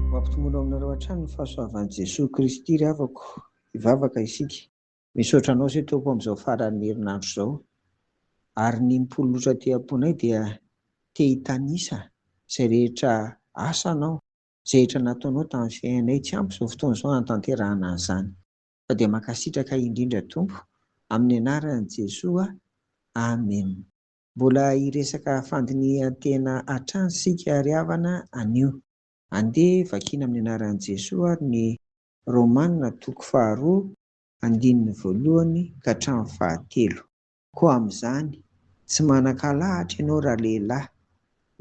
Ho ampitomboina ao aminareo hatrany ny fahasoavan'i Jesoa Kristy ry havako. Hivavaka isika. Misaotra Anao se Tompo amin'izao faran'ny herinandro izao. Ary ny mipololotra aty am-ponay dia te hitanisa izay rehetra asanao, izay rehetra nataonao tamin'ny fiainanay. Tsy ampy izao fotoana izao hanatanterahana an'izany. Fa dia mankasitraka indrindra Tompo. Amin'ny anaran'i Jesoa. Amen. Mbola hiresaka fandinihan-tena hatrany isika ry havana anio. Andeha vakina amin'ny anaran'i Jesoa ary ny Romana toko faharoa andininy voalohany ka hatramin'ny fahatelo. Koa amin'izany, tsy manan-kalahatra ianao ralehilahy,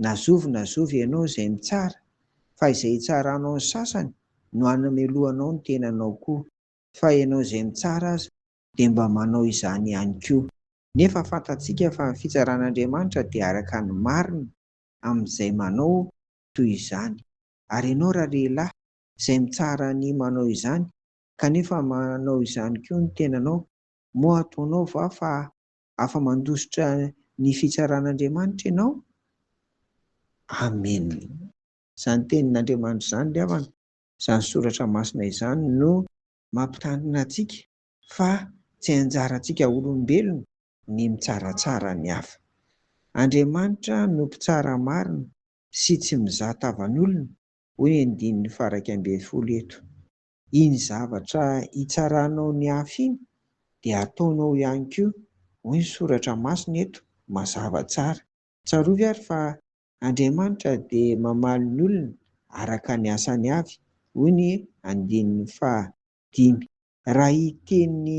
na zovy na zovy ianao izay mitsara, fa izay hitsaranao ny sasany no hanamelohanao ny tenanao koa, fa ianao izay mitsara aza dia mba manao izany ihany koa. Nefa fantatsika fa ny fitsaran'Andriamanitra dia araka ny marina amin'izay manao toy izany. Ary ianao ralehilahy, izay mitsara ny manao izany, kanefa manao izany koa ny tenanao, moa ataonao va fa afa-mandositra ny fitsaran'Andriamanitra ianao? Amena. Izany tenin'Andriamanitra izany ry havana, izany soratra masina izany no mampitandrina antsika fa tsy anjarantsika olombelona ny mitsaratsara ny hafa. Andriamanitra no mpitsara marina sy tsy mizaha tavan'olona, hoy ny andininy faharaika ambin'ny folo eto. Iny zavatra hitsaranao ny hafa iny dia ataonao ihany koa, hoy ny soratra masina eto mazava tsara. Tsarovy ary fa Andriamanitra dia mamaly ny olony araka ny asany avy, hoy ny andininy faha dimy. Raha hiteny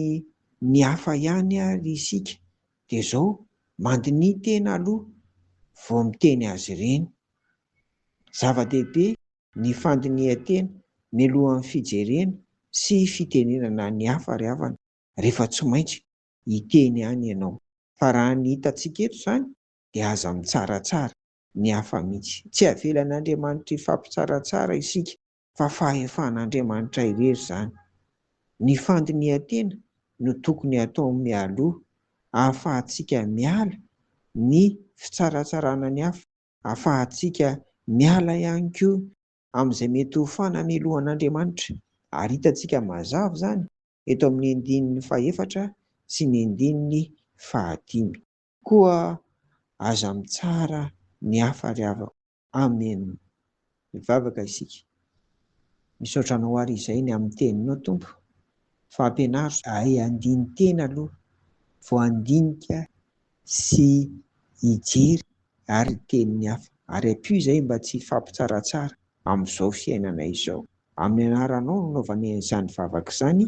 ny hafa ihany ary isika dia izao, mandiniha tena aloha vao miteny azy ireny. Zava-dehibe ny fandinihan-tena mialohan'ny fijerena sy fitenenana ny hafa ry havana, rehefa tsy maintsy hiteny ihany ianao. Fa raha ny hitantsika eto izany dia aza mitsaratsara ny hafa mihitsy. Tsy avelan'Andriamanitra hifampitsaratsara isika fa fahefan'Andriamanitra irery izany. Ny fandinihan-tena no tokony hatao mialoha ahafahantsika miala ny fitsaratsarana ny hafa, ahafahantsika miala ihany koa amin'izay mety ho fanamelohan'Andriamanitra ary hitantsika mazava izany eto amin'ny andininy fahefatra sy ny andininy fahadimy. Koa aza mitsara ny hafa ry havako. Amen mivavaka isika. Misaotra anao ary izay ny amin'ny teninao Tompo fa ampianaro. Ahay handini-tena aloha vao handinika sy hijery ary ny tenin'ny hafa ary ampio izay mba tsy hifampitsaratsara amin'izao fiainana izao. Amin'ny anaranao no anaovanay izany vavaka izany.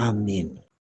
Amena.